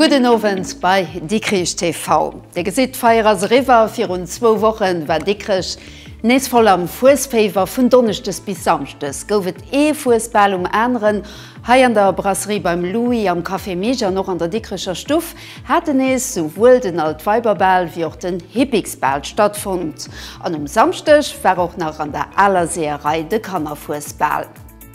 Gudden Owend bei Dikrich TV. Dir gesitt, d'Feier ass eriwwer. Virun zwou Woche war Dikrech nees voll am Fuesféiwer. Vun Donneschdes bis Samschdes gouf et ee Fuesbal um aneren, hei an der Brasserie beim Louis, am Café Mig an och an der Dikricher Stuff. haten nees souwuel den Altweiberbal wéi och den Hippiksbal stattfonnt an um Samschdeg war och nach an der Aler Seeërei de Kannerfuesbal.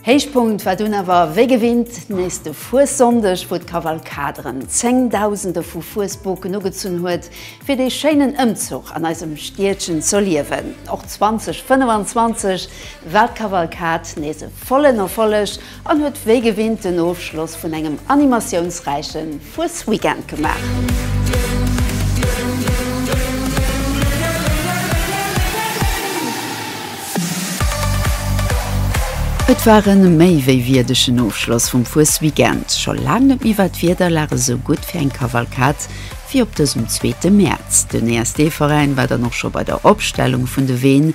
Héichpunkt war dunn awer wéi gewinnt nees de Fuessonndeg, wou d'Kavalkad erëm Zéngdausende vu Fuesboken ugezunn huet, fir dee schéinen Ëmzuch an eisem Stiedchen z'erliewen. Och 2025 war d'Kavalkad nees e vollen Erfolleg. An huet wéi gewinnt den Ofschloss vun engem animatiounsräiche Fuesweekend gemaach. Et war e méi wéi wierdegen Ofschloss vum Fuesweekend. Scho laang net méi war d'Wiederlag esou gutt fir eng Kavalkad wéi op dësem zweete Mäerz. Den ESD-Veräin war dann och scho bei der Opstellung vun de Ween.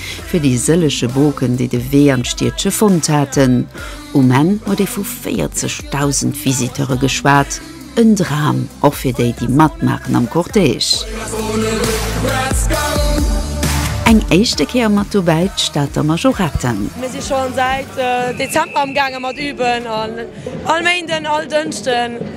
fir déi sëllege Boken, déi de Wee an d'Stiedche fonnt haten. Um Enn huet ee vu 40.000 Visiteure geschwat, en Dram och fir déi, déi matmaachen am Cortège. Eng éischte Kéier mat dobäi d'Stater Majorette. Mir si scho säit Dezember amgaange mat üben, all Méinden, all Dënschden.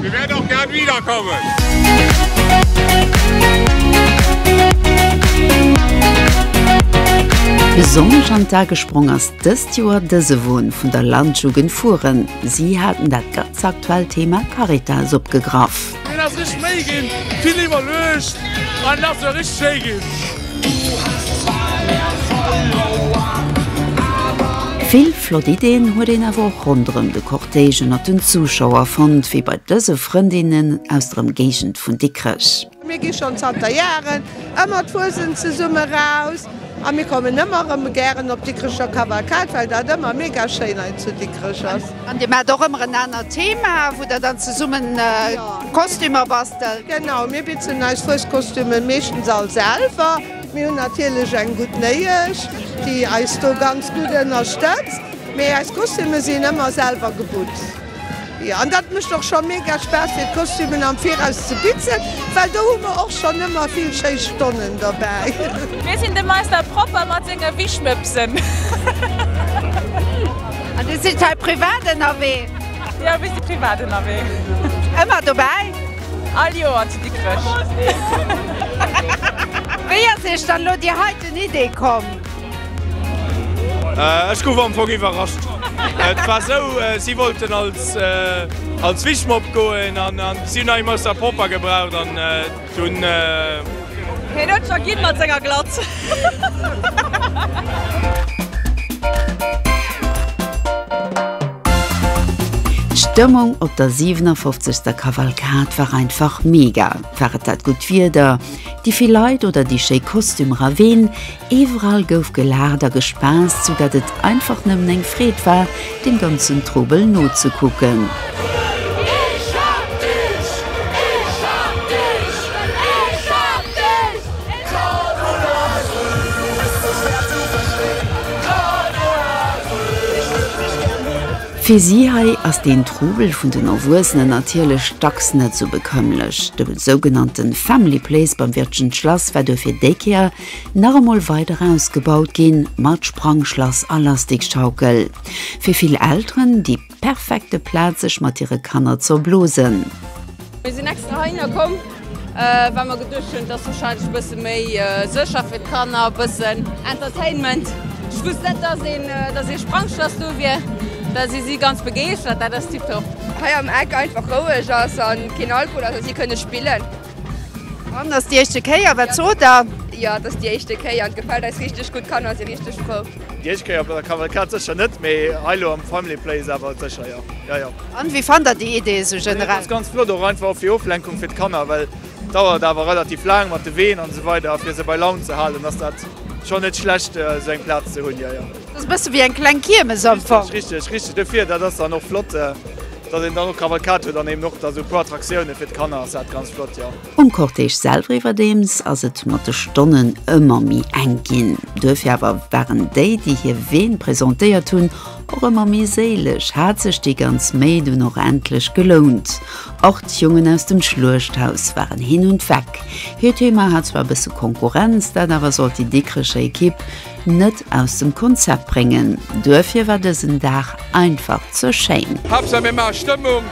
Wir werden auch gern wiederkommen! Besonnesch an d'A gesprong ass dëst Joer dëse Won vun der Landjugend Furen. Si haten dat ganz aktuellt Thema Caritas opgegraff. Deen ass richteg méi ginn, vill iwwerluecht an ass och richteg schéi ginn. Vill flott Ideen huet een awer och ronderëm de Cortège ënnert den Zuschauer fonnt, wéi bei dëse Frëndinnen aus der Emgéigend vun Dikrech. Mir gi schonn zanter Jaren ëmmer d'Fuesent zesumme eraus a mir kommen ëmmer erëm gären op d'Dikrecher Kavalkad, well dat ëmmer mega schéin hei zu Dikrech ass. An Dir maacht och ëmmer en anert Thema, wou Der dann zesumme Kostümer bastelt? Genau, mir bitzen eis Fueskostümen meeschtens all selwer. Mir hunn natierlech eng gutt Néiesch, déi eis do ganz gutt ënnerstëtzt, mee eis Kostüme sinn ëmmer selwer gebutzt. Jo, an dat mécht och scho mega Spaass, fir d'Kostümen am Viraus ze bitzen, well do hu mer och schonn ëmmer vill schéi Stonnen dobäi. Mir sinn de Meister Propper mat senge Wischmëppsen. An Dir sidd hei privat ënnerwee? Jo, e bëssi privat ënnerwee. Ëmmer dobäi? All Joer zu Dikrech. Wéi ass Iech dann elo déi heiten Idee komm? Ech gouf am Fong iwwerrascht. Et war esou, si wollten als Wichmopp goen an si hunn nach eemol Sapopper gebraucht. Hien huet scho ginn mat senger Glatz. D'Stëmmung op der 57. Kavalkad war einfach mega. War et dat gutt Wieder, déi vill Leit oder déi schéi Kostümer? A ween Iwwerall gouf gelaacht a gespaasst, sou dat et einfach nëmmen eng Freed war, dem ganzen Trubel nozekucken. Fir si hei ass deen Trubel vun den Erwuessenen natierlech dacks net sou bekömmlech. De sougenannte Family Place beim Wirtgen Schlass war duerfir déi Kéier, Nach emol weider ausgebaut ginn, mat Sprangschlass a Lastikschaukel. Fir vill Elteren déi perfekte Plaz sech mat hire Kanner ze erblosen. Mir sinn extra heihinner komm, well mer geduecht hunn, et ass warscheinlech e bësse méi sécher fir d'Kanner, e bëssen Entertainment. Ech wousst net, dass ee Sprangschlass do wier, well si si ganz begeeschtert, dat ass tiptop. Hei am Eck einfach roueg ass a keen Alkohol ass a si kënne spillen. An ass déi éischte Kéier, wat sot der? Jo, et ass déi éischte Kéier an et gefält eis richteg gutt. D'Kanner si richteg frou. Déi éischt Kéier op der Kavalkad sécher net, mee hei elo am Family Place awer sécher jo. Jo, jo. An wéi fannt der déi Idee esou generell? Et ass ganz flott, och einfach fir Oflenkung fir d'Kanner, well et dauert awer relativ laang mat de Ween an esou weider a fir se bei Laun ze halen, ass dat schonn net schlecht esou eng Plaz ze hunn. Jo, jo. Dat ass e bësse wéi eng kleng Kiermes am Fong. Richteg, richteg dofir. Dat ass dann och flott, datt een dann och Kavalkad huet an eben och da sou e puer Attraktioune fir d'Kanner ass dat ganz flott, jo. Um Cortège selwer iwwerdeems ass et mat de Stonnen ëmmer méi enk ginn. Duerfir awer waren déi, déi hir Ween presentéiert hunn, och ëmmer méi séileg, hat sech déi ganz Méi dunn och endlech gelount. Och d'Jongen aus dem Schluechthaus waren hin und weg. Hiert Thema hat zwar e bësse Konkurrenz, dat awer sollt déi Dikrecher Ekipp net aus dem Konzept bréngen. Duerfir war dësen Dag einfach ze schéin. Haaptsaach mir maache Stëmmung,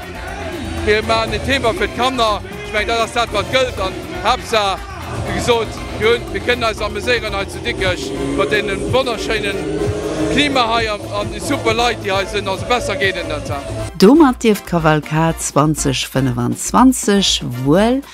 mir maachen en Thema fir d'Kanner. Ech mengen, dat ass dat, wat gëllt. An Haaptsaach, wéi gesot, mir kënnen eis ameséieren hei zu Dikrech mat deem wonnerschéine Klima hei an de super Leit, déi hei sinn. Also besser geet et net. Domat dierft d'Kavalkad 2025 wuel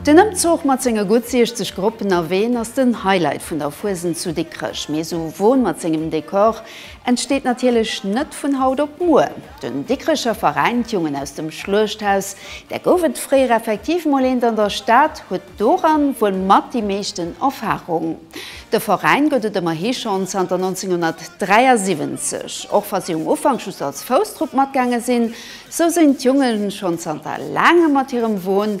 Den Ëmzuch mat senge gutt 60 Gruppen a Ween ass den Highlight vun der Fuesent zu Dikrech. Mee esou e Won mat sengem Dekor entsteet natierlech net vun haut op muer. Den Dikrecher Veräin D'Jungen aus dem Schluechthaus, där gouf et fréier effektiv mol eent an der Stad, huet doran wuel mat déi meeschten Erfarung. De Veräin gëtt et ëmmerhi schonn zanter 1973. Och wa si um Ufank just als Fousstrupp matgaange sinn, sou sinn d'Junge schonn zanter laangem mat hirem Won,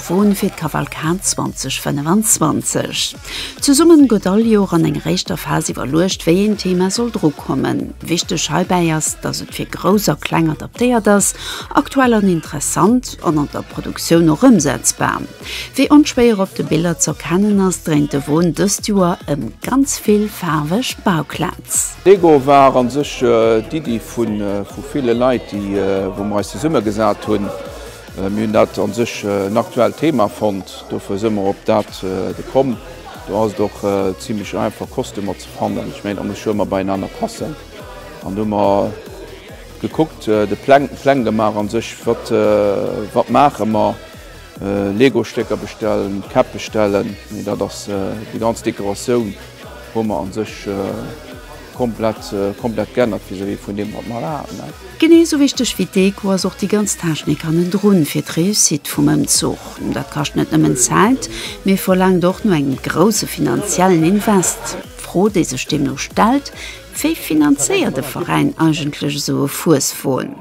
Froen fir d'Kavalkad 2025. Zesummen gëtt all Joer an enger éischter Phas iwwerluecht, wéi een Thema soll drukommen. Wichteg heibäi ass, dass et fir Grouss a Kleng adaptéiert ass, aktuell an interessant an an der Produktioun och ëmsetzbar. Wéi onschwéier op de Biller z'erkennen ass, dréint de Won dëst Joer ëm ganz vill faarweg Bauklez. D'Deko war a sech d'Iddi vu ville Leit, wou mer eis zesummegesat hunn. Mir hunn dat a sech en aktuellt Thema fonnt, dofir si mer op dat gekomm. Do ass et och zimmlech einfach Kostümer ze fannen. Ech mengen da muss ech ëmmer beienaner passen. An do hu mer gekuckt, de Pläng Pläng gemaach a sech, wat wat maache mer, Legostécker bestellen, Käpp bestellen, mee dat ass déi ganz Dekoratioun hu mer a sech. Komplett, komplett geännert vis-à-vis vun deem, wat mer elo haten. Genee esou wichteg wéi d'Deko ass och déi ganz Technik hannendrun fir d'Réussite vum Ëmzuch. Dat kascht net nëmmen Zäit, mee verlaangt och no engem grousse finanziellen Invest. D'Fro, déi sech deemno stellt, Wéi finanzéiert e Veräin eigentlech esou e Fueswon?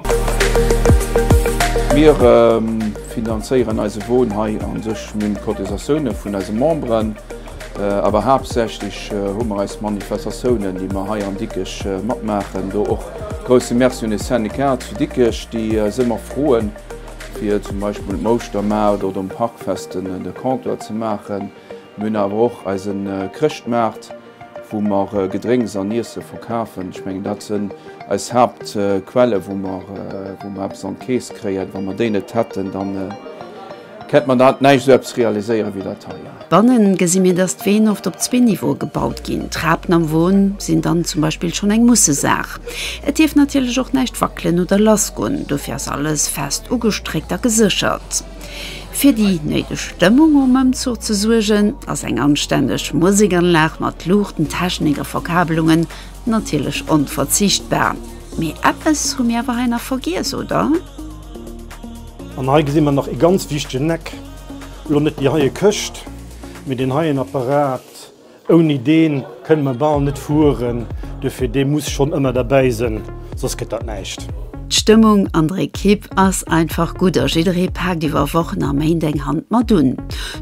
Mir finanzéieren eise Won hei a sech mam Cotisatioune vun eise Memberen. Awer haaptsächlech hu mer eis Manifestatiounen, déi mer hei an Dikkech matmaachen. Do och e grousse Merci un de Syndicat zu Dikkech, déi eis ëmmer froen, fir zum Beispill um Ouschtermaart oder um Parkfest de Comptoir ze maachen. Mir hunn awer och eise Chrëschtmaart, wou mer Gedrénks an Iesse verkafen. Ech mengen, dat sinn eis Haaptquelle, wou mer eppes an d'Keess kréien. Wa mer déi net hätten, dann. Kent mer dat näischt esou eppes realiséieren wéi dat hei? Bannen gesi mir dass d'Ween oft op zwee Niveaue gebaut ginn. Trapen am Won sinn dann zum Beispill schonn eng Mussesaach. Et dierf natierlech och näischt wackelen oder lassgoen, dofir ass alles fest ugestréckt a geséchert. Fir déi néideg Stëmmung um Ëmzuch ze suergen, ass eng anstänneg Musekanlag mat Luuchten, Technik a Verkabelungen natierlech onverzichtbar. Mee eppes hu mir awer hei nach vergiess, oder? An hei gesi mer nach ee ganz wichtegen Eck, elo net déi heie Këscht, mee deen heien Apparat. Ouni dee kënne mer bal net fueren, duerfir dee muss schonn ëmmer derbäi sënn, soss gëtt dat näischt. D'Stëmmung an der Ekipp ass einfach gutt a jidderee paakt iwwer Wochen a Méint eng Hand mat un.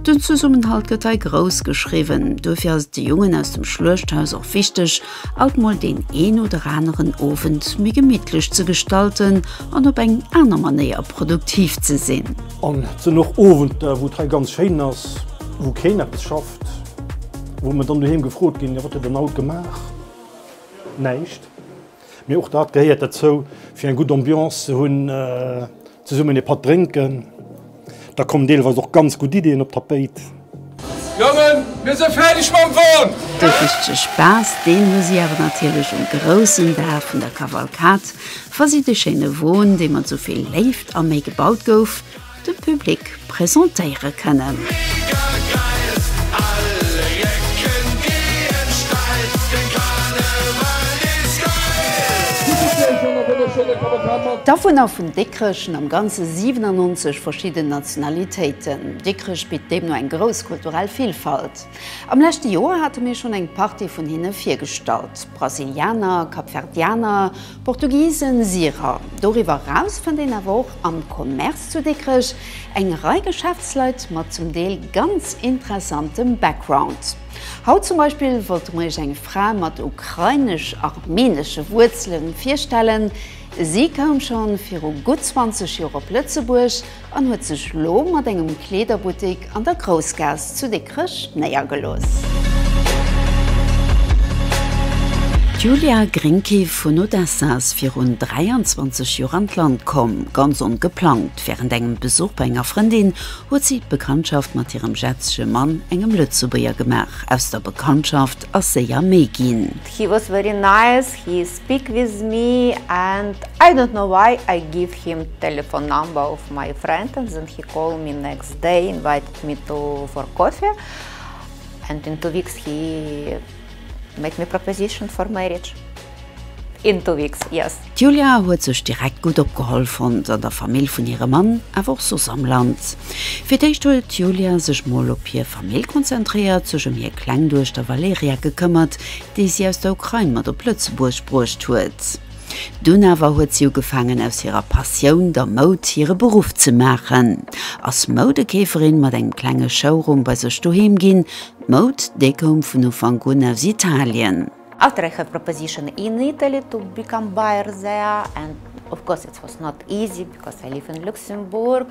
Den Zesummenhalt gëtt hei grouss geschriwwen, duerfir ass et de Jongen aus dem Schluechthaus och wichteg, alt mol deen een oder aneren Owend méi gemittlech ze gestalten an op eng aner Manéier produktiv ze sinn. An et sinn och Owenter, wou et hei ganz schéin ass, wou keen eppes schafft, wou mer dann doheem gefrot ginn, jo wat huet Dir dann haut gemaach? Näischt. Mee och dat gehéiert derzou, fir eng gutt Ambiance ze hunn. Zesummen ee Patt drénken, da kommen deelweis och ganz gutt Ideeën op d'Tapéit. Jongen, mir sinn fäerdeg mam Won! De richtege Spaass, deen hu si awer natierlech um groussen Dag vun der Kavalkad, wa si de schéine Won, dee mat esou vill Léift a Méi gebaut gouf, dem Public presentéiere kënnen. D'Awunner vun Dikrech sinn am Ganze 97 verschidden Nationalitéiten. Dikrech bitt deemno eng grouss kulturell Villfalt. Am leschte Joer hate mir schonn eng Partie vun hinne virgestallt, Brasilianer, Kapverdianer, Portugisen Syrer. Doriwwer eraus fënnt een awer och am Commerce zu Dikrech eng Rei Geschäftsleit mat zum Deel ganz interessantem Background. Haut zum Beispill wollte mer iech eng Fra mat ukrainesch-armenesche Wuerzelen virstellen. Si koum schonn viru gutt 20 Joer op Lëtzebuerg, an huet sech lo mat engem Kleederbuttik an der Groussgaass zu Dikrech néiergelooss. D'Julia Grinke vun Odessa ass virun 23 Joer an d'Land komm, ganz ongeplangt. Wärend engem Besuch bei enger Frëndin huet si d'Bekanntschaft mat hirem jetzege Mann, engem Lëtzebuerger, gemaach. Aus der Bekanntschaft ass séier méi ginn. Speak with me and I don't know why I give him telephone number of my friend and then he call me next day invited me to for coffee and in two weeks he make me proposition for marriage in two weeks yes. D'Julia huet sech direkt gutt opgeholl fonnt, an der Famill vun hirem Mann, awer och soss am Land. Fir d'éischt huet d'Julia sech mol op hir Famill konzentréiert, sech ëm hir kleng Duechter Valeria gekëmmert, déi si aus der Ukrain mat op Lëtzebuerg bruecht huet. Dunn awer huet si ugefaangen aus hirer Passioun, der Moud, hire Beruff ze maachen, ass Moudekeeferin, mat engem klenge Showroom bei sech doheem ginn. D'Moud, déi koum vun Ufank un aus Italien. After I have proposition in Italy to become buyer there and of course it was not easy because I live in Luxembourg.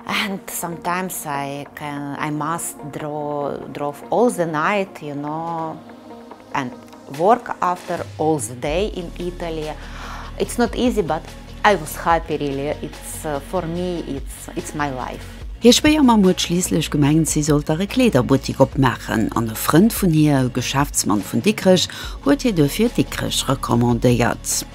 And sometimes I must draw all the night, you know, and work after all the day in Italy. It's not easy but I was happy really, it's for me, it's my life. Hir Schwéiermamm huet schliisslech gemengt, si sollt der e Kleederbuttik opmaachen an e Frënd vun hir, e Geschäftsmann vun Dikrech, huet hir duerfir Dikrech recommandéiert.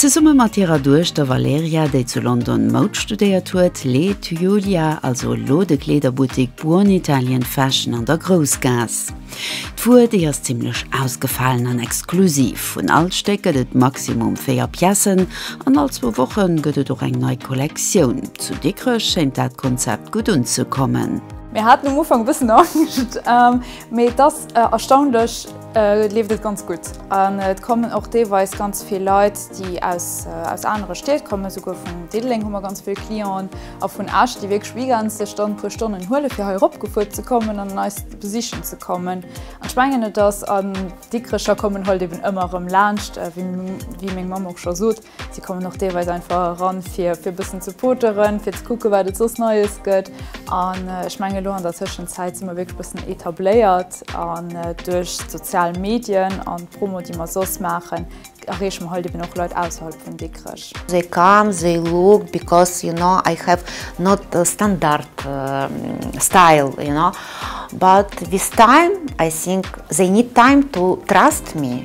Zesumme mat hirer Duechter Valeria, déi zu London Moud studéiert huet, leet Julia also elo de Kleederbuttik Buon Italien Fashion an der Groussgaass. D'Wuer, déi ass zimmlech ausgefalen an exklusiv. Vun all Stéck gëtt et maximum véier Piècen an all zwou Woche gëtt et och eng nei Kollektioun. Zu Dikrech schéint dat Konzept gutt unzekommen. Mir haten um Ufank e bëssen Angscht, mee et ass Erstaunlech leeft et ganz gutt an et kommen och deelweis ganz vill Leit, déi aus anere Stied kommen. Esouguer vun Diddeleng hu mer ganz vill Clienten a vun Esch, déi wierklech weekends sech dann e puer Stonnen huelen, fir hei eropgefuer ze kommen an eis besichen ze kommen. An ech mengen, et ass an Dikrecher kommen Hëlt eben ëmmer erëm laanscht, wéi meng Mamm och scho sot. Si kommen och deelweis einfach eran, fir e bëssen ze poteren, fir ze kucken, wat et soss Neies gëtt. An ech mengen, elo an der Tëschenzäit si mer wierklech e bëssen etabléiert. An duerch d'sozial Medien an d'Promo, déi mer soss maachen, erreeche mer halt eben och Leit ausserhalb vun Dikrech. They come, they look, because you know I have not a standard style, you know, but with time I think they need time to trust me.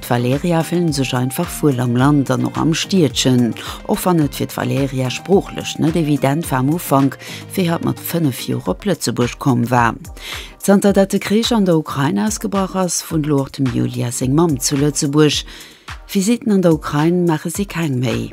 D'Valerja fillen sech einfach wuel am Land an och am Stiedchen. Och wann et fir d'Valerja sproochlech net evident war am Ufank, wéi hatt mat 5 Joer op Lëtzebuerg komm war. Zanter dat de Krich an der Ukrain ausgebrach ass, wunnt elo och dem Yulia seng Mamm zu Lëtzebuerg. Visitten an der Ukrain maache si keng méi.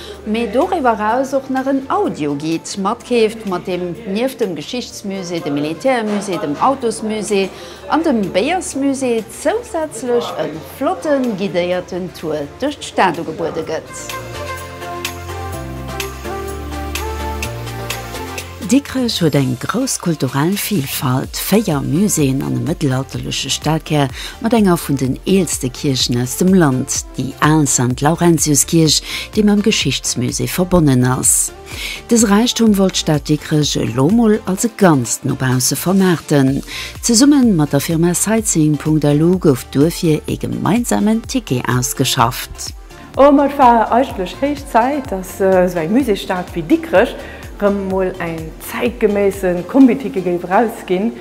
Mee doriwwer eraus och nach en Audioguide matkeeft, mat deem nieft dem Geschichtsmusée, dem Militärmusée, dem Autosmusée an dem Béiersmusée zousätzlech e flotte guidéierten Tour duerch d'Stad ugebuede gëtt. Dikrech huet eng grouss kulturell Vilfalt, véier Muséeën an e mëttelalterleche Stellkär mat enger vun den eelste Kierchen aus dem Land, déi al Sankt Laurentius-Kierch, déi mam Geschichtsmusée verbonnen ass. Dës Räichtum wollt d'Stad Dikrech elo mol als e Ganzt no bausse vermaarten. Zesumme mat der Firma Sightseeing.lu gouf duerfir ee gemeinsamen Ticket ausgeschafft. Oh, ma et war eigentlech héich Zäit, dass esou eng Musékstad wéi Dikrech rëm emol eng zäitgeméisse Kombitike géif erausginn,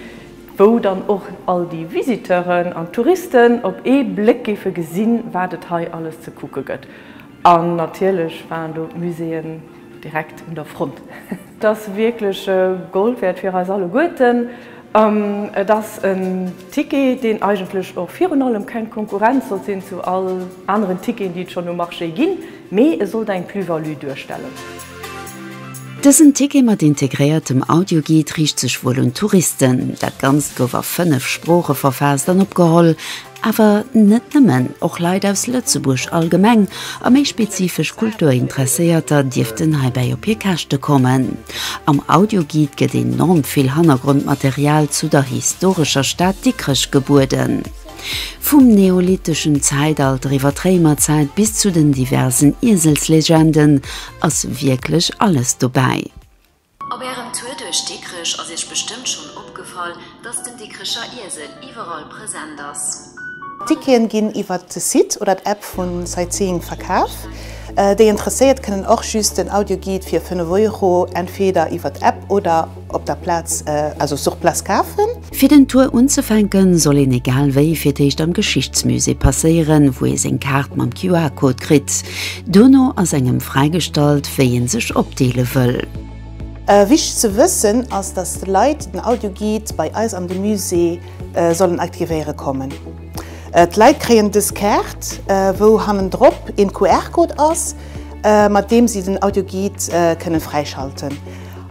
wou dann och all déi Visiteuren an d'Touristen op ee Bléck géife gesinn, wat et hei alles ze kucke gëtt. An natierlech waren do d'Muséeën. Direkt un der Front. Et ass wierklech Gold wäert fir eis alleguerten. Et ass en Ticket, deen eigentlech och virun allem keng Konkurrenz sollt sinn zu all aneren Ticketen, déi et schonn um Marché ginn, mee e sollt eng Plus-value duerstellen. Dësen Ticket mat integréiertem Audioguide riicht sech wuel un d'Touristen. Dat Ganzt gouf a fënnef Sprooche verfaasst an opgeholl. Awer net nëmmen, och Leit aus Lëtzebuerg allgemeng a méi spezifesch Kulturinteresséierter dierften heibäi op hir Käschte kommen. Am Audioguide gëtt enorm vill Hannergrondmaterial zu der historescher Stad Dikrech gebueden. Vum neolitteschen Zäitalter iwwer d'Réimerzäit bis zu den diversen Ieselslegenden ass wierklech alles dobäi. Op Ärem Tour duerch Dikrech ass Iech bestëmmt schonn opgefall, dass den Dikrecher Iesel iwwerall present ass. D'Ticketen ginn iwwert de Site oder d'App vu Sightseeing verkaf. Déi Interesséiert kënnen och just den Audioguide fir 5 Euro entweder iwwert d'App oder op der Plaz, also sur place, kafen. Fir den Tour unzefänken, soll een egal wéi fir d'éischt am Geschichtsmusée passéieren, wou ee seng Kaart mam QR-Code kritt. Duerno ass engem fräigestallt, wéi ee sech opdeele wëll. Wichteg ze wëssen ass, dass d'Leit den Audioguide bei eis an de Musée sollen aktivéiere kommen. D'Leit kréien dës Kaart, wou hannendrop een QR-Code ass, mat deem si den Audioguide kënnen fräischalten.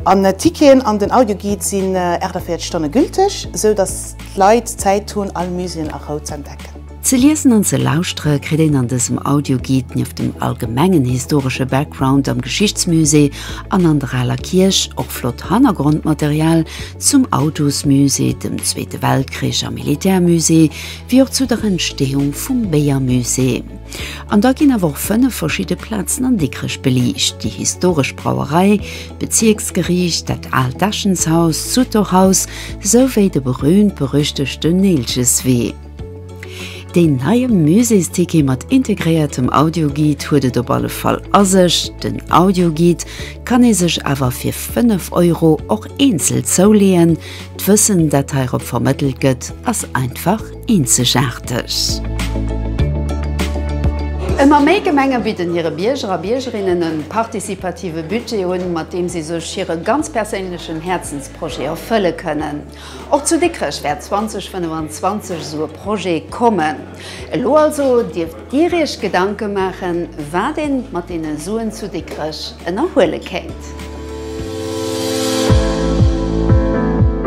An d'Ticketen an den Audioguide sinn 48 Stonne gülteg, sou datt d'Leit Zäit hunn all Muséeën a Rou z'entdecken. Ze liesen an ze lauschtere kritt een an dësem Audioguide nieft dem allgemengen historesche Background am Geschichtsmusée an an der Aler Kierch och flott Hannergrondmaterial zum Autosmusée, dem Zweete Weltkrich a Militärmusée, wéi och zu der Entstehung vum Béiermusée. An da ginn awer och fënnef verschidde Plazen an Dikrech beliicht, déi historesch Brauerei, d'Bezierksgeriicht, dat aalt Äschenshaus, d'Sutorhaus esou wéi de berüümt-berüchtegten Neelcheswee. Deen neie Muséesticket mat integréiertem Audioguide huet et op alle Fall a sech. Den Audioguide kann ee sech awer fir 5 Euro och eenzel zouleeën. D'Wëssen, dat heirop vermëttelt gëtt, ass einfach eenzegaarteg. Ëmmer méi Gemenge bidden hire Bierger a Biergerinnen e participative Budget un, mat deem si sech hire ganz perséinlechen Häerzensprojet erfëlle kënnen. Och zu Dikrech wäert 2025 esou e Projet kommen. Elo also dierft. Dir Iech Gedanke maachen, wat ee mat deene Suen zu Dikrech ënnerhuele kéint?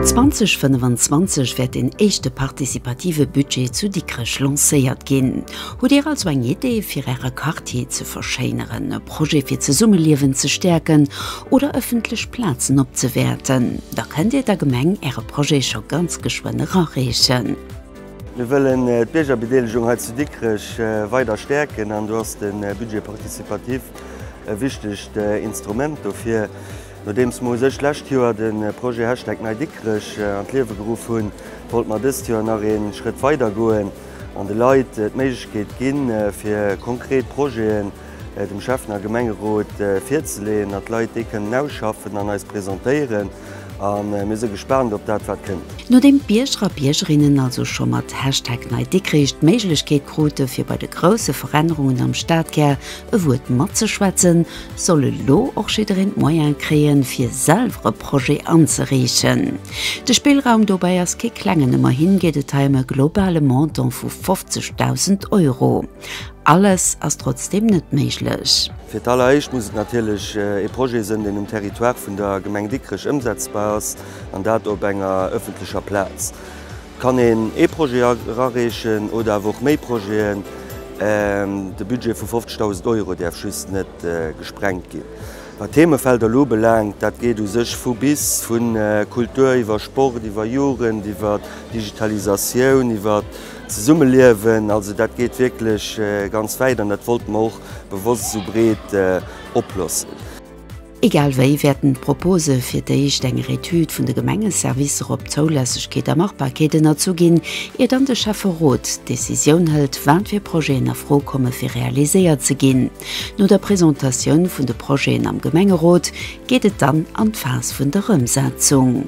2025 wäert deen éischte participative Budget zu Dikrech lancéiert ginn. Hutt Dir also eng Idee, fir Äre Quartier ze verschéineren, e Projet, fir d'Zesummeliewen ze stäerken oder ëffentlech Plazen opzewäerten? Da kënnt Dir der Gemeng Äre Projet scho ganz geschwënn erareechen. Mir wëllen d'Biergerbedeelegung hei zu Dikrech weider stäerken an do ass de Budget participatif e wichtegt Instrument dofir. Nodeems mer u sech d'lescht Joer de Projet Hashtag NeiDikrech an d'Liewe geruff hunn, wollte mer dëst Joer nach ee Schrëtt weider goen an de Leit d'Méiglechkeet ginn, fir konkret Projeten, dem Schäffner Gemengerot virzeleeën, datt d'Leit déi kënnen ausschaffen an eis presentéieren. A mir si gespaant op dat, wat kënnt. Nodeem d'Bierger a Biergerinnen also scho mat Hashtag NeiDikrich d'Méiglechkeet krute fir bei de grousse Verännerungen am Stadkär e Wuert matzeschwätzen, soll elo och jiddereen d'Moyene kréie fir selwer e Projet anzereechen. De Spillraum dobäi ass kee klengen, ëmmerhi geet et hei ëm e globale Montant vu 50.000 Euro. Alles ass trotzdeem net méiglech. Fir d'alleréischt muss et natierlech ee Projet sënn, deen um Territoire vun der Gemeng Dikrech ëmsetzbar ass, an dat op enger ëffentlecher Plaz. Et kann een ee Projet erareechen oder awer och méi Projeten. De Budget vu 50.000 Euro däerf just net gesprengt ginn. Wat d'Themefelder elo belaangt, dat geet u sech vu bis, vu Kultur iwwer Sport, iwwer Jugend, iwwer Digitalisatioun, iwwer. Zesummeliewen, also dat geet wierklech ganz wäit an dat wollte mer och bewosst esou breet oplossen. Egal wéi wäerten d'Propose fir d'éischt enger Etüd vun de Gemengeservicer op Zoulässegkeet a Machbarkeet ënnerzu ginn, ier dann de Schäfferot d'Decisioun hëlt, wat fir Projeten a Fro komme fir realiséiert ze ginn. No der Presentatioun vun de Projeten am Gemengerot geet et dann an d'Phas vun der Ëmsetzung.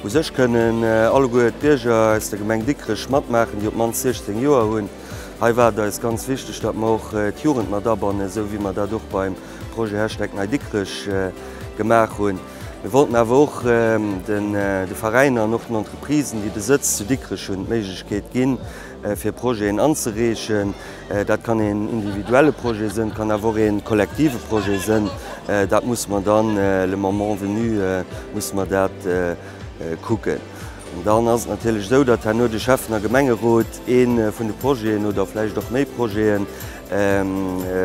U sech kënnen alleguer d'Bierger aus der Gemeng Dikrech matmaachen, déi op d'mannst 16 Joer hunn. Hei war et eis ganz wichteg, datt mer och d'Jugend mat abannen, esou wéi mer dat och beim Projet Hashtag MyDikrech gemaach hunn. Mir wollten awer och de Veräiner an och den Entreprisen, déi Besëtz zu Dikrech hunn, d'Méiglechkeet ginn, fir Projeten anzereechen. Dat kann een individuelle Projet sënn, kann awer och een kollektive Projet sënn. Dat muss mer dann le moment venu muss mer dat kucken. An dann ass et natierlech esou, datt herno de Schäffen a Gemengerot ee vun de Projeten oder vläicht och méi Projete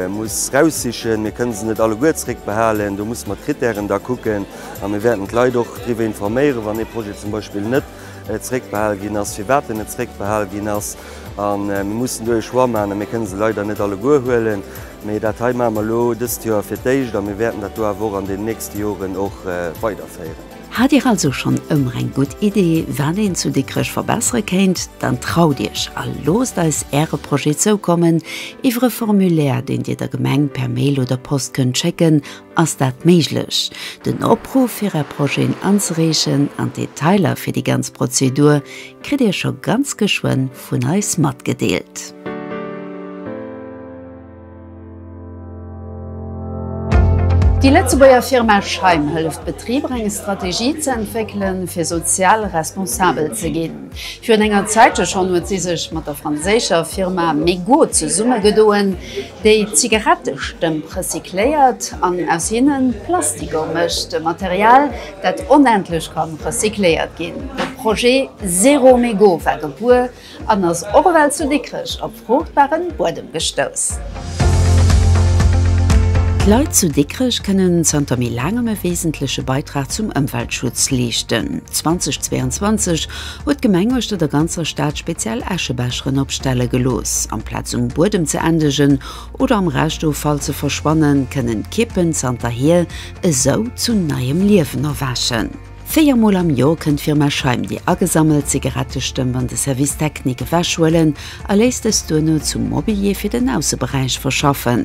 muss raussichen. Mir kënne se net alleguer zréckbehalen. Do muss mer d'Krittären da kucken a mir wäerten d'Leit och driwwer informéieren, wann ee Projet zum Beispill net zréckbehal ginn ass, firwat en net zréckbehal ginn ass. A mir mussen do ee Choix maachen a mir kënne se leider net alleguer huelen. Mee dat hei maache mer elo dëst Joer fir d'éischt a mir wäerten dat do awer och an den nächste Joren och weiderféieren. Hat Dir also schonn ëmmer eng gutt Idee, wat een zu Dikrech verbessere kéint? Dann traut Iech a loosst eis Äre Projet zoukommen iwwer e Formulaire, deen Dir der Gemeng per Mail oder Post kënnt schécken Ass dat méiglech? Den Opruff fir Är Projeten anzereechen an d'Detailer fir déi ganz Prozedur kritt Dir scho ganz geschwënn vun eis matgedeelt. Déi Lëtzebuerger Firma Scheim hëlleft Betriber eng Strategie ze entwéckelen, fir sozial responsabel ze ginn. Virun enger Zäitche schonn huet si sech mat der franséischer Firma Mego zesummegedoen. Déi Zigarette Stëmp recycléiert an aus hinnen Plastiker mécht, e Material dat onendlech kann recycléiert ginn. De Projet Zero Mégot war gebuer an ass och ewell zu Dikrech op fruchtbaren Buedem gestouss. D'Leit zu Dikrech kënnen zanter méi laangem e wesentleche Beitrag zum Ëmweltschutz leeschten. 2022 huet d'Gemeng uechter der ganzer Stad speziell Äschebecheren opstelle gelooss. Amplaz um Buedem ze endegen oder am Reschtoffall ze verschwannen, kënnen d'Kippen zanterhier esou zu neiem Liewen erwächen. Véier Mol am Joer kënnt d'Firma Scheim déi agesammelt Zigarettestëmp an de Service Technique ewechhuelen a léisst dës duerno zum Mobilier fir den Ausseberäich verschaffen.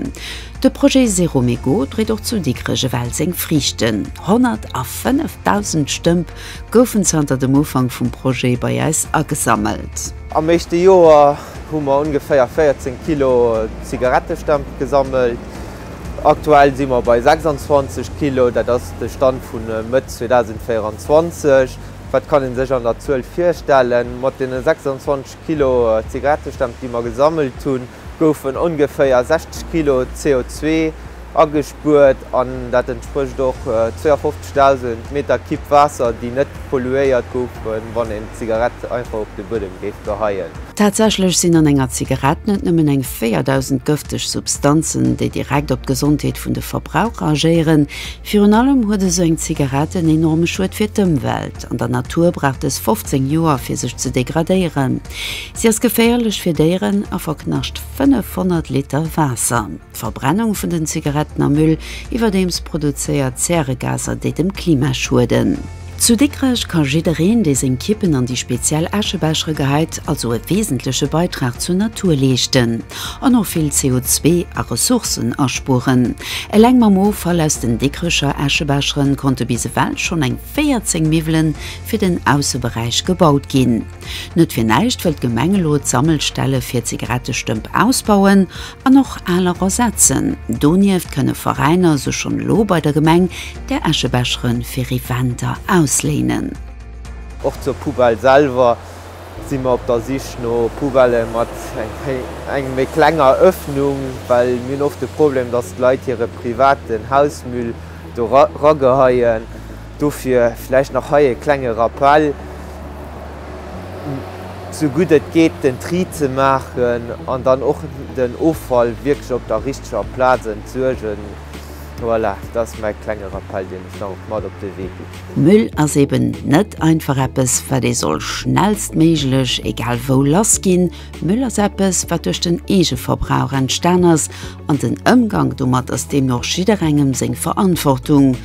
De Projet Zero Mégot dréit och zu Dikrech ewell seng Friichten, 105.000 Stëmp goufen zanter dem Ufank vum Projet bei äis agesammelt. Am éischte Joer hu mer ongeféier 14 Kilo Zigarettestempel gesammelt. Aktuell si mer bei 26 Kilo. Dat ass de Stand vu Mëtt 2024. Wat kann ee sech an der Zuel virstellen? Mat deene 26 Kilo Zigarettestempel, déi mer gesammelt hunn, goufen ongeféier 60 Kilo CO2 agespuert an dat entsprécht och 52.000 Meter Kibb Waasser, déi net polluéiert goufen, wann een d'Zigarett einfach op de Buedem géif geheien. Tatsächlech sinn an enger Zigarett net nëmmen eng 4.000 gëfteg Substanzen, déi direkt op d'Gesondheet vun de Verbraucher agéieren. Virun allem huet esou eng Zigarett en enorme Schued fir d'Ëmwelt, an der Natur brauch dës 15 Joer, fir sech ze degradéieren. Si ass geféierlech fir Déieren a verknascht 500 Liter Waasser. D'Verbrennung vun den Zigaretten am Müll iwwerdeems produzéiert Zäregaser, déi dem Klima schueden. Zu Dikrech ka jiddereen, dee seng Kippen an déi speziell Äschebechere geheit, also e weesentleche Beitrag zur Natur leeschten an och vill CO2 a Ressourcen aspueren. Eleng mam Offall aus den Dikrecher Äschebechere konnte bis ewell schonn eng 14 Miwwelen fir den Ausseberäich gebaut ginn. Net fir näischt wëll d'Gemeng elo d'Sammelstelle fir Zigarettestëmp ausbauen an och aler ersetzen. Donieft kënne Veräiner se schonn elo bei der Gemeng der Eschebeschere fir Eventer ausléinen. Och zur Poubelle selwer si mer op der Sich no Poubellë mat enger méi klenger Ëffnung, well mir hunn oft de Problem, dass d'Leit hire privaten Hausmüll do rageheien. Dofir vläicht nach hei e klenge Rappell, sou gutt et geet den Tri ze maachen an dann och den Offall wierklech op der richteger Plaz entsuergen. Voilà, dat ass mäi klenge Rappell, deen ech nach mat op de Wee ginn. Müll ass eben net einfach eppes, wat ee soll schnellstméiglech egal wou lassginn. Mëll ass eppes, wat duerch den Eegeverbrauch entstan ass, an den Ëmgank domat ass deemno jidderengem seng Verantwortung.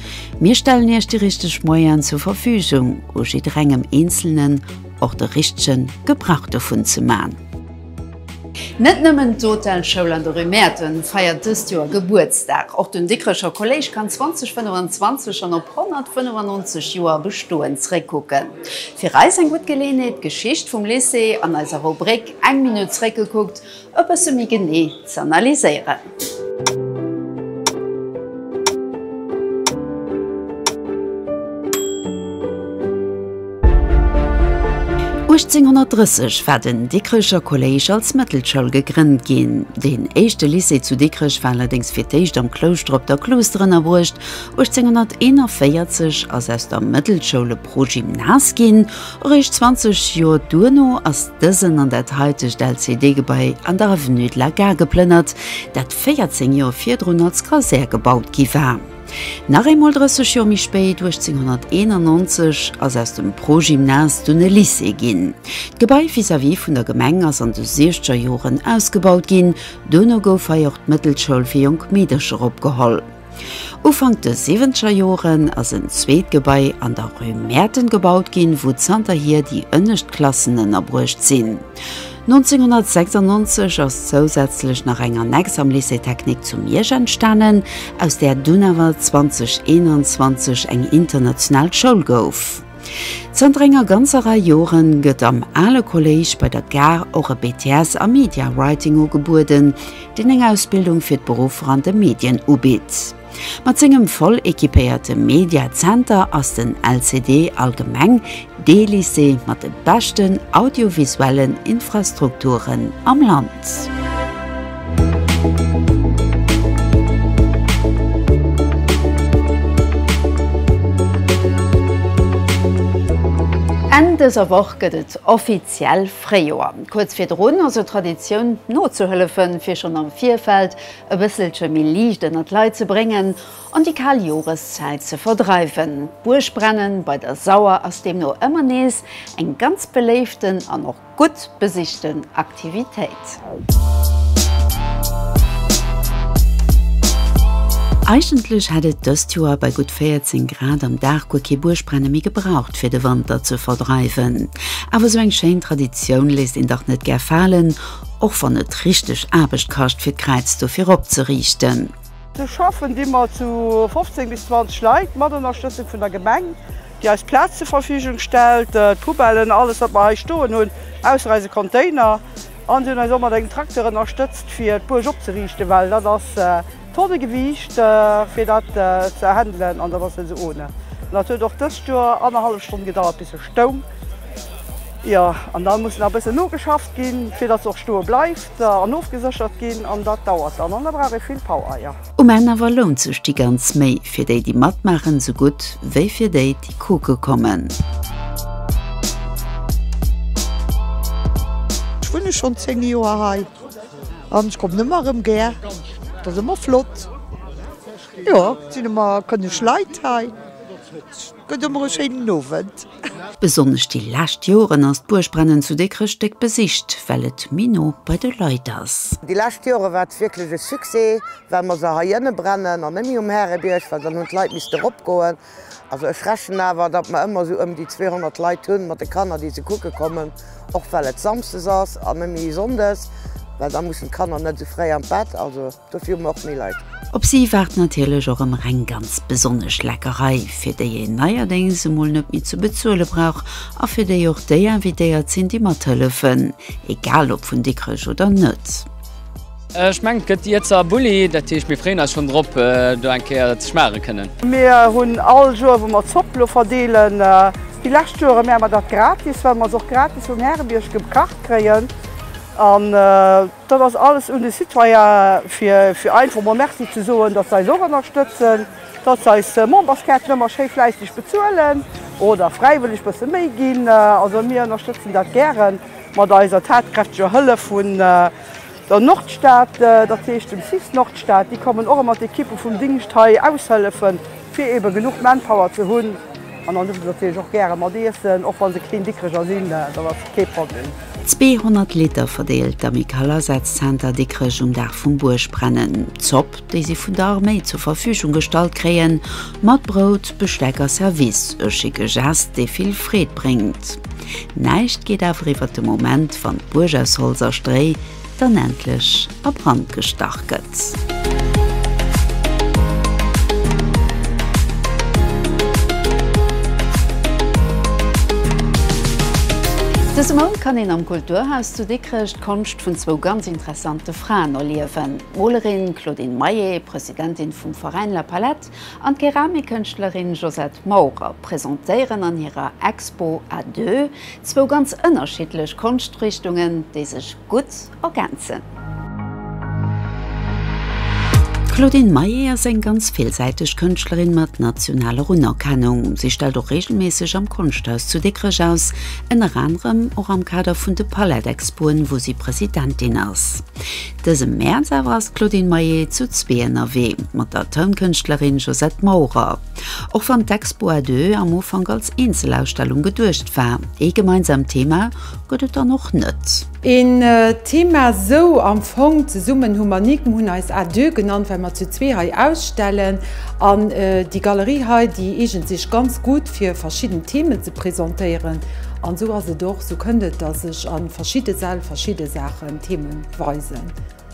Mir stellen Iech déi richteg Moyene zur Verfügung, u jidderengem Eenzelnen och de richtege Gebrauch dovun ze man. Net nëmmen d'Hotelschoul an de Rue Mäerten feiert dëst Joer Gebuertsdag, och den Dikrecher Kolléisch kann 2025 schonn op 195 Joer Bestoen zréckkucken. Fir eis eng gutt Geleeënheet d'Geschicht vum Lycée an eiser Rubrik Eng Minutt zréckgekuckt e bësse méi genee z'analyséieren. Uechtzénhonnertdrësseg war den Dikrecher Kolléisch als Mëttelschoul gegrënnt ginn. Deen éischte Lycée zu Dikrech war allerdéngs fir d'éischt am Klouschter op der Kluuster ënnerbruecht 1841 ass aus der Mëttelschoul e Progymnas ginn. Eréischt 20 Joer duerno ass dësen an dat haitegt LCD-Gebai an der Avenue de la Gare geplënnert, dat 14 Joer virdrun als Kasär gebaut gi war. Nach eemol 30 Joer méi spéit, 1891, ass aus dem Progymnas dunn e Lycée ginn. D'Gebai vis-à-vis vun der Gemeng ass an de Siechterjoren ausgebaut ginn. Duerno gouf hei och d'Mëttelschoul fir jonk Meedercher opgeholl. Ufank de siwwenzeger Joren ass en zweet Gebai an der Rue Mäerten gebaut ginn, wou zanterhier déi ënnescht Klassen ënnerbruecht sinn. 1996 ass zousätzlech nach eng Annex am Lycée technique zu Miersch entstanen, aus där dunn awer 2021 eng international Schoul gouf. Zanter enger ganzer Rei Joren gëtt am ale Kolléisch bei der Gare och e BTS a Media Writing ugebueden, deen eng Ausbildung fir d'Beruffer an de Medien ubitt. Mat sengem voll equipéierte Media Center ass den LCD allgemeng dee Lycée mat de beschten audiovisuellen Infrastrukturen am Land. Enn dëser Woch gëtt et offiziell Fréijoer. Kuerz virdrun ass et Traditioun nozuhëllefen, fir schonn am Virfeld e bësselche méi Liicht ënner d'Leit ze bréngen an déi kal Joreszäit ze verdreiwen. D'Buergbrennen bei der Sauer ass deemno ëmmer nees eng ganz beléiften an och Gutt besichten Aktivitéit. Eigentlech hätt et dëst Joer bei gutt 14 Grad am Dag guer kee Buergbrenne méi gebraucht fir de Wanter ze verdreiwen. Awer esou eng schéin Traditioun léisst een dach net gär falen, och wann et richteg Aarbecht kascht fir d'Kräiz dofir opzeriichten. Do schaffen ëmmer zu 15 bis 20 Leit, mat Ënnerstëtzung vun der Gemeng. déi eis Plaz zur Verfügung stellt, d'Poubellen, alles wat mer hei stoen hunn, ausser eise Container. An si hunn eis och mat engem Tracteur ënnerstëtzt fir d'Buerg opzeriichten, well dat ass Tonnegewiicht fir dat ze handelen an dat ass net esou ohne. An dat huet och dëst Joer annerhallef Stonn gedauert bis se stoung. Jo, an da muss nach e bëssen nogeschafft ginn, fir datt se och stoe bleift an ofgeséchert ginn an dat dauert dann an da brauch ee vill Power, jo. Um Enn awer lount sech déi ganz Méi fir déi déi matmaachen sou gutt wéi fir déi déi kucke kommen. Ech wunne schonn 10 Joer hei an ech kommen ëmmer erëm gär. Et ass ëmmer flott, jo et sinn ëmmer kënneg Leit hei. Gëtt emmer e schéinen Owend. Besonnesch déi lescht Joren ass d'Buergbrennen zu Dikrech déck besicht, well et méi no bei de Leit ass. Déi lescht Jore war et wierklech e Succès, well mer se heiënne brennen an net méi um Härebierg, well dann hunn d'Leit misste erop goen. Also ech rechnen awer, datt mer ëmmer esou ëm déi 200 Leit hunn mat de Kanner, déi se kucke kommen, och well et samsdes ass an net méi sonndes, well da mussen d'Kanner net esou fréi an d'Bett. Dofir hu mer och méi Leit. Op si waart natierlech och ëmmer eng ganz besonnesch Leckerei, fir déi een neierdéngs emol net méi ze bezuele brauch a fir déi och déi invitéiert sinn, déi mathëllefen, egal ob vun Dikrech oder net. Ech mengen, et gëtt déi Iezer Bulli. Dat heescht, mir freeën eis schonn drop, do eng Kéier ze schmaache kënnen. Mir hunn all Joer, wou mer Zopp elo verdeelen, déi lescht Joere mär mer dat gratis, well mer se och gratis um Härebierg gekacht kréien. Dat ass alles un de Citoyen, fir einfach mol Merci ze soen, datt se eis och ënnerstëtzen, datt se eis Memberskaarten ëmmer schéi fläisseg bezuelen oder fräiwëlleg bësse méi ginn. Also mir ënnerstëtzen dat gäre mat eiser tatkräfteger Hëllef vun der Nordstad, dat heescht dem cis Nordstad. Déi kommen och ëmmer d'Ekippe vum Dingscht hei aushëllefen. Fir eben genuch Manpower ze hunn an dann dierfe se natierlech och gäre mat iessen, och wa se kleng Dikkreger sinn, dat ass kee Problem. 200 Liter verdeelt d'Amicale-Asazenter Dikrech um Dag vum Buergbrennen. D'Zopp, déi si vun der Arméi zur Verfügung gestallt kréien, mat Brout, Besteck a Service, e schicke Gest, dee vill Freed bréngt. Näischt geet awer iwwert de Moment, wann d'Buerg aus Holz a Stréi, dann endlech a Brand gestach gëtt. Dëse Mount kann een am Kulturhaus zu Dikrech d'Konscht vun zwou ganz interessante Fraen erliewen, d'Molerin Claudine Maillet, Presidentin vum Veräin La Palette, an d'Keramikkënschtlerin Josette Maurer presentéieren an hirer Expo à deux zwou ganz ënnerschiddlech Konschtrichtungen, déi sech gutt ergänzen. D'Claudine Maillet ass eng ganz villsäiteg Kënschtlerin mat nationaler Unerkennung. Si stellt och reegelméisseg am Konschthaus zu Dikrech aus, ënner anerem och am Kader vun de Palette-Expoen, wou si Presidentin ass. Dëse Mäerz awer ass d'Claudine Maillet zu zwee ënnerwee mat der Tounkënschtlerin Josette Maurer. Och wann d'Expo à deux am Ufank als Eenzelausstellung geduecht war, ee gemeinsaamt Thema gëtt et dann och net. Een Thema sou am Fong, Zesummen hu mer Nik. Mer hunn eis à deux genannt, well mer zu zwee hei ausstellen an déi Galerie hei, déi eegent sech ganz gutt fir verschidden Themen ze presentéieren. An esou ass et och, esou kënnt et, datt ech a verschidde Säll verschidde Saache. Themen weisen.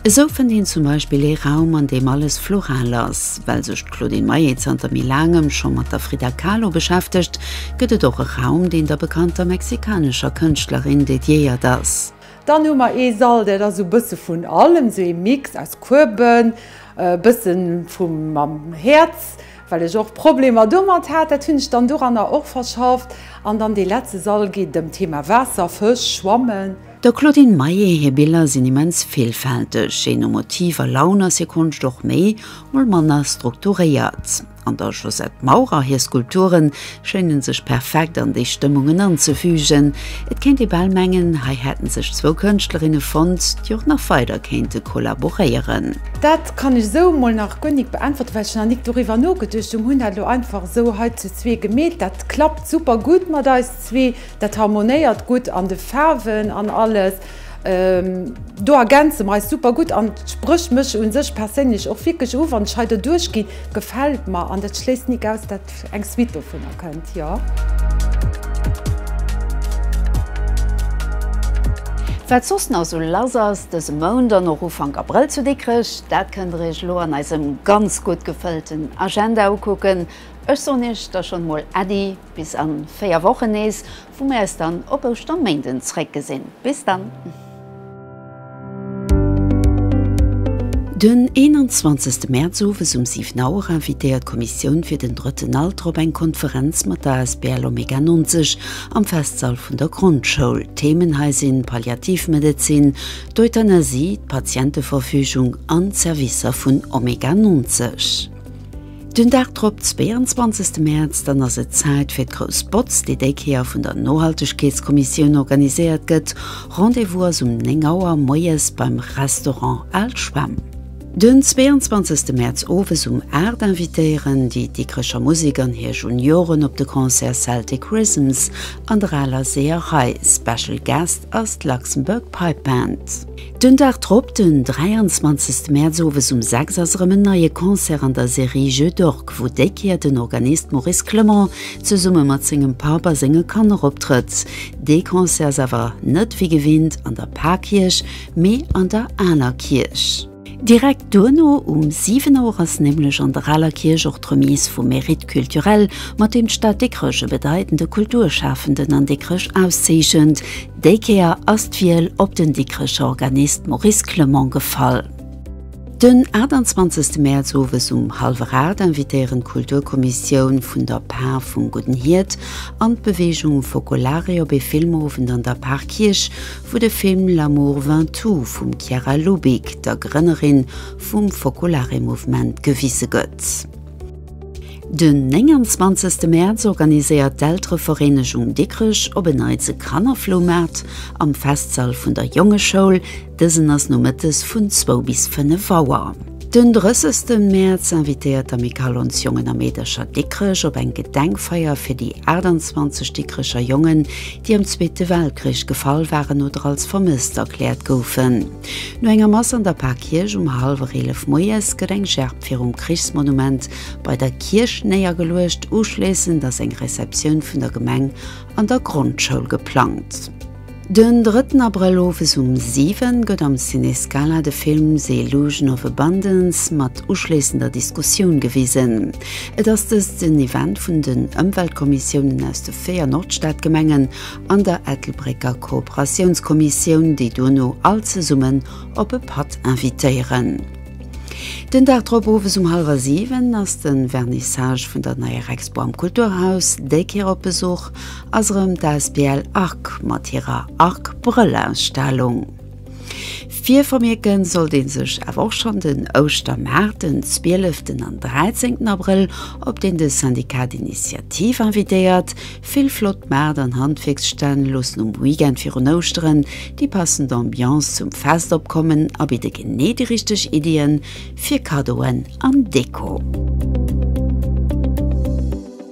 Esou fënnt een zum Beispill ee Raum, an deem alles floral ass. Well sech d'Claudine Maillet zanter méi laangem scho mat der Frida Kahlo beschäftegt, gëtt et och e Raum, deen der bekannter mexikanescher Kënschtlerin dediéiert ass. Dann hu mer ee Sall, dat ass esou e bësse vun allem, esou ee Mix aus Kueben, e bësse vu mam Häerz, well ech och Problemer domat hat. Dat hunn ech dann doranner och verschafft. An dann dee letzte Sall geet ëm d'Thema Waasser, Fësch, Schwammen. Der Claudine Maillet hir Biller sinn immens villfälteg, jee no Motiv a Laun ass hir Konscht och méi, mol manner strukturéiert. An der Josette Maurer hir Skulpture schéine sech perfekt an déi Stëmmungen anzefügen. Et kéint ee bal mengen, hei hätte sech zwou Kënschtlerinne fonnt, déi och nach weider kéinte kollaboréieren. Dat kann ech esou mol nach guer nik beäntwerte well ech nach nik doriwwer nogeduecht hunn. Hunn dat elo einfach esou hei zu zwee gemeet. Dat klappt super gutt mat eis zwee. Dat harmonéiert gutt an de Faarwen an alles. Do ergänze mer eis super gutt an et sprécht mech u sech perséinlech och wierklech u wann ech hei derduerch ginn. Gefält mer an dat schléisst nik aus dat eng Suite dovunner kënnt, jo. Wat soss nach sou lass ass dëse Mount an och Ufank Abrëll zu Dikrech, dat kënnt der iech elo an eisem ganz gutt gefëllten Agenda ukucken. Ech soen iech da schonn emol Äddi! Bis an 4 Wochen nees, wou mir eis dann op Ouschterméinden zréck gesinn. Bis dann! Den 21 Mäerz owes um 7 Auer invitéiert d'Kommissioun fir den drëtten Alter op eng Konferenz mat der asbl Omega 90 am Festsall vun der Grondschoul. Theemen hei sinn Palliativmedezin, d'Euthanasie, d'Patienteverfügung an d'Servicer vun Omega 90. Den Dag drop, 22 Mäerz, dann ass et Zäit fir d'grouss Botz, déi déi Kéier vun der Nohaltegkeetskommissioun organiséiert gëtt. Rendez-vous ass um 9 Auer moies beim Restaurant Al Schwemm. Den 22 Mäerz owes um 8 invitéieren déi Dikrecher Musek an hir Junioren op de Concert Celtic Rhythms an der aler Seeërei. Special Guest ass d'Luxembourg Pipe Band. Den Dag drop, den 23 Mäerz owes um 6 ass erëm en neie Concert an der Serie Jeux d'Orques, wou déi Kéier den Organist Maurice Clement zesumme mat sengem Papp a senge Kanner optrëtt. Dee Concert ass awer net wéi gewinnt an der Parkierch, mee an der Aler Kierch. Direkt duerno um 7 Auer ass nämlech an der Aler Kierch och d'Remise vum Mérite culturel, mat deem d'Stad Dikrech e bedeitende Kulturschafenden an Dikrech auszeechent. Déi Kéier ass d'Wiel op den Dikrecher Organist Maurice Clement gefall. Den 28 Mäerz owes um hallwer 8 invitéieren d'Kulturkommissioun vun der Par vum Gudden Hiert an d'Beweegung Focolare op ee Filmowend an der Parkierch, wou de Film L'amour vint tout vum Chiara Lubich, der Grënnerin vum Focolare Mouvement, gewise gëtt. Den 29 Mäerz organiséiert d'Elterevereenegung Dikrech op en Neits e Kannerfloumaart am Festsall vun der Jongeschoul, dësen ass nomëttes vun 2 bis 5 Auer. Den 30 Mäerz invitéiert d'Amicale Ons Jongen a Meedercher Dikrech op eng Gedenkfeier fir déi 28 Dikrecher Jongen, déi am Zweete Weltkrich gefall waren oder als vermësst erkläert goufen. No enger Mass an der Parkierch um hallwer 11 moies gëtt eng Gerb virum Krichsmonument bei der Kierch néiergeluecht, uschléissend ass eng Receptioun vun der Gemeng an der Grondschoul geplangt. Den drëtten Abrëll owes um 7 gëtt am Ciné Scala de Film The Illusion of Abundance mat uschléissender Diskussioun gewisen. Et ass dëst en Event vun den Ëmweltkommissiounen aus de véier Nordstadgemengen an der Ettelbrécker Kooperatiounskommissioun, déi duerno all zesummen op e Patt invitéieren. Den Dag drop owes um hallwer siwen ass de Vernissage vun der neier Expo am Kulturhaus. Déi Kéier op Besuch ass erëm d'Asbl Arc mat hirer Arc-Brëll-Ausstellung. Virvermierken sollt een sech awer och schonn den Ouschtermaart, den 12 an 13 Abrëll, op deen de Syndicat d'Initiative invitéiert. Vill flott Maart an Handwierksstänn loossen um Weekend virun Ouschteren déi passend Ambiance zum Fest opkommen a bidde genee déi richteg Iddien fir Kaddoen an Deko.